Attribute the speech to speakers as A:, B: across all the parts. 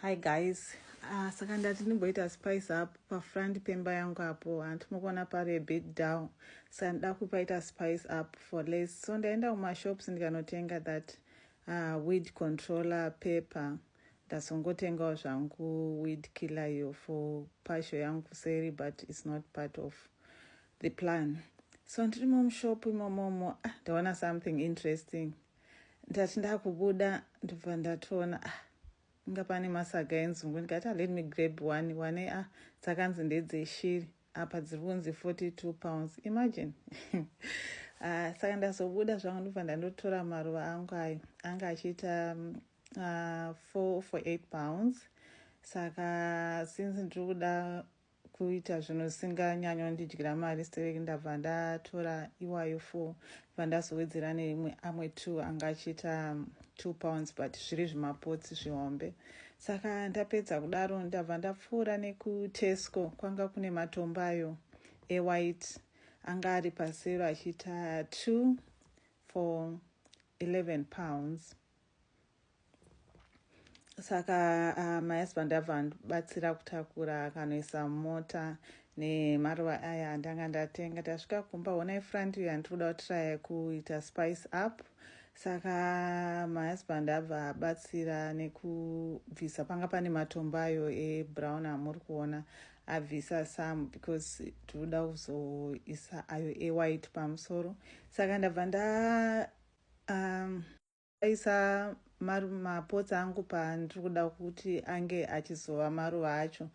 A: Hi guys, uh, saka ndati ndimboita spice up pafront pemba yangu apo hanti mukuona pari a bit down saka ndida kupaita spice up for less so ndaenda kumashops ndikanotenga that uh, weed controller paper ndazongotengawo zvangu weed killer iyo for pasho yangu kuseri but its not part of the plan so ndirimo mushop imomomo ah, ndaona something interesting ndati ndakubuda ndobva ndatoona ah inga pane masaga enzungu ndikati ah, let me grab one wane ah dzakanzi ndedzeshiri apa dziri kunzi 42 pounds imagine ah, saka ndazobuda zvangu ndobva ndandotora maruva angu ayo anga achiita mm, ah, 4 for 8 pounds saka since ndiri kuda kuita zvinhu zvisinganyanyondidyira mari stereki ndabva ndatora iwayo four ndibva ndazowedzera neimwe amwe two anga achiita two pounds but zviri zvimapotsi zvihombe saka ndapedza kudaro ndabva ndapfuura nekutesco kwanga kune matombayo ewhite anga ari pasero achiita two for 11 pounds saka uh, my husband abva andibatsira kutakura akanoisa mota nemaruva aya andanga ndatenga tasvika kumba hona ifront iyo yandiri kuda kutiraya kuita spice up saka my husband abva abatsira nekubvisa panga pane matombo ayo ebrown amuri kuona abvisa some because tinoda kuzoisa ayo ewhite pamusoro saka ndabva nda um, Ndakaisa mapotsi angu pandiri kuda kuti ange achizova maruva acho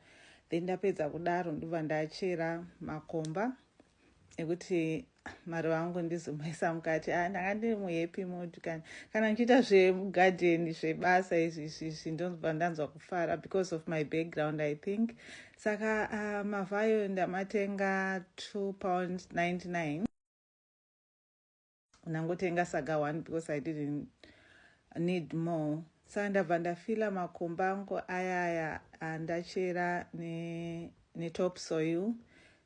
A: then ndapedza kudaro ndobva ndachera makomba ekuti maruva angu ndizomaisa mukati ah, ndanga ndiri muhappy mood kana kana ndichiita zvemugarden zvebasa izvi izvi ndonzwa ndanzwa kufara because of my background i think saka uh, mavhayo ndamatenga 2 pound 99 ndangotenga saga one because i didn't need more saka ndabva ndafila makomba angu ayaya andachera netop soil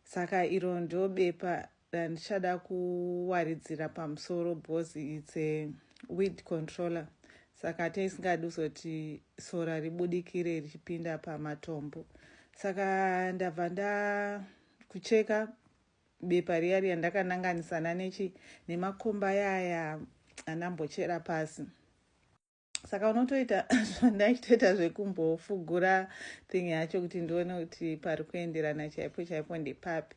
A: saka iro ndo bepa randichada kuwaridzira pamusoro because its a weed controller saka taisingadi kuzoti sora ribudikire richipinda pamatombo saka ndabva ndakucheka bepa riya riya ndakananganisana nechi nemakomba yaya andambochera pasi saka unotoita zvandaitoita zvekumbofugura thing yacho kuti ndione kuti pari kuenderana chaipo chaipo ndepapi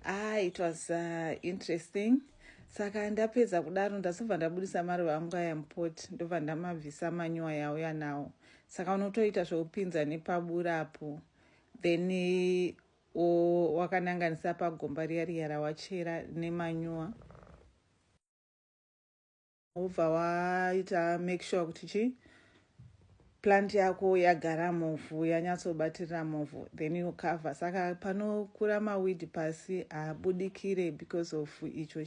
A: ah it was uh, interesting saka ndapedza kudaro ndazobva ndabudisa maruva angu aya mupoti ndobva ndamabvisa manyuwa yauya nawo saka unotoita zvekupinza nepaburapo then Ooh wakananganisa pagomba riya riya rawachera nemanyowa wobva waita make sure kuti chii plant yako yagara muvhu yanyatsobatirira muvhu then you cover saka panokura mawidi pasi haabudikire because of icho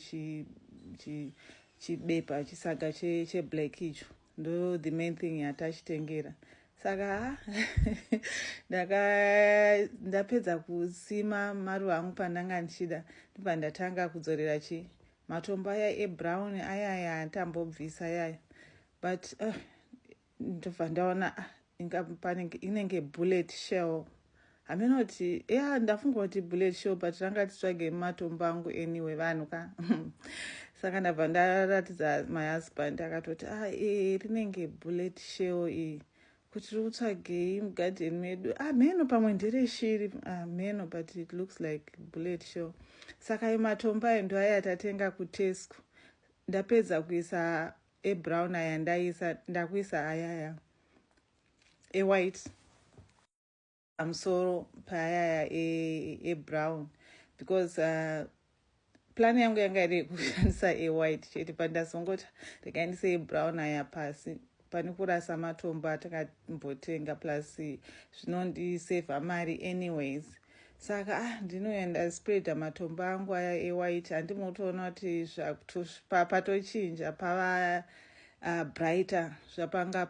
A: chibepa chisaga cheblack icho Ndo the main thing yatachitengera saka ha ndaka ndapedza kusima maruva angu pandanga ndichida ndibva ndatanga kudzorera chi matombo aya ebrown ayaya atambobvisa yaya but uh, ndobva ndaona ah, inga panenge inenge bullet shell hameno kuti ya ndafunga kuti bullet shell but ranga titsvage matombo angu anyway vanhu ka saka ndabva ndaratidza my husband akatoti a ah, e rinenge bullet shell iyi kuti riri kutsvagei mugarden medu hameno ah, pamwe ndere shiri hameno ah, but it looks like bullet shell saka imatombo ayo ndoaya tatenga kutesco ndapedza kuisa ebrown aya ndaisa ndakuisa ayaya ewhite pamusoro paayaya ebrown because uh, plan yangu yanga iri yekushandisa ewhite chete but ndazongoti rekaindisa ebrown aya pasi pane kurasa matombo atakambotsenga plus zvinondisevha mari anyways Saka ah ndinouya ndaspreader matombo angu aya ewhite handimo kutoona kuti patochinja pava uh, brighter zvapanga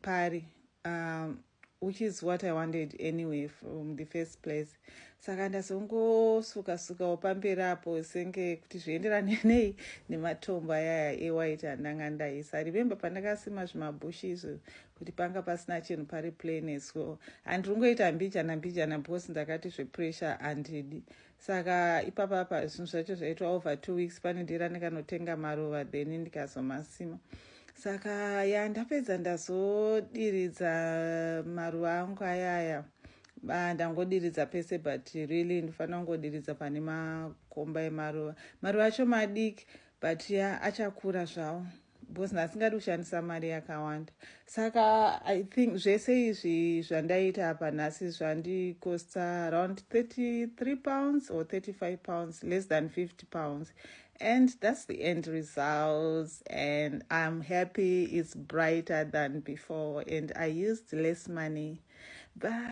A: pari um, which is what i wanted anyway from the first place saka ndazongosuka suka wapamberi apo senge kuti zvienderane nei nematombo ayaya ewhite andanga ndaisa remember pandakasima zvimabhushi izvo kuti panga pasina chinhu pari plain as well and rungoita mbijana mbijana because ndakati zvepressure handidi saka ipapapa zvinhu zvacho zvaitwa over two weeks pane ndira ndikanotenga maruva then ndikazomasima saka ya ndapedza ndazodiridza maruva angu ayaya ndangodiridza pese but really ndifanira kungodiridza pane makomba emaruva maruva acho madiki but ya achakura zvawo because nhasi ngadi kushandisa mari yakawanda saka i think zvese izvi zvandaita apa nhasi zvandikosta around 33 pounds or 35 pounds less than 50 pounds and that's the end results and i'm happy it's brighter than before and i used less money but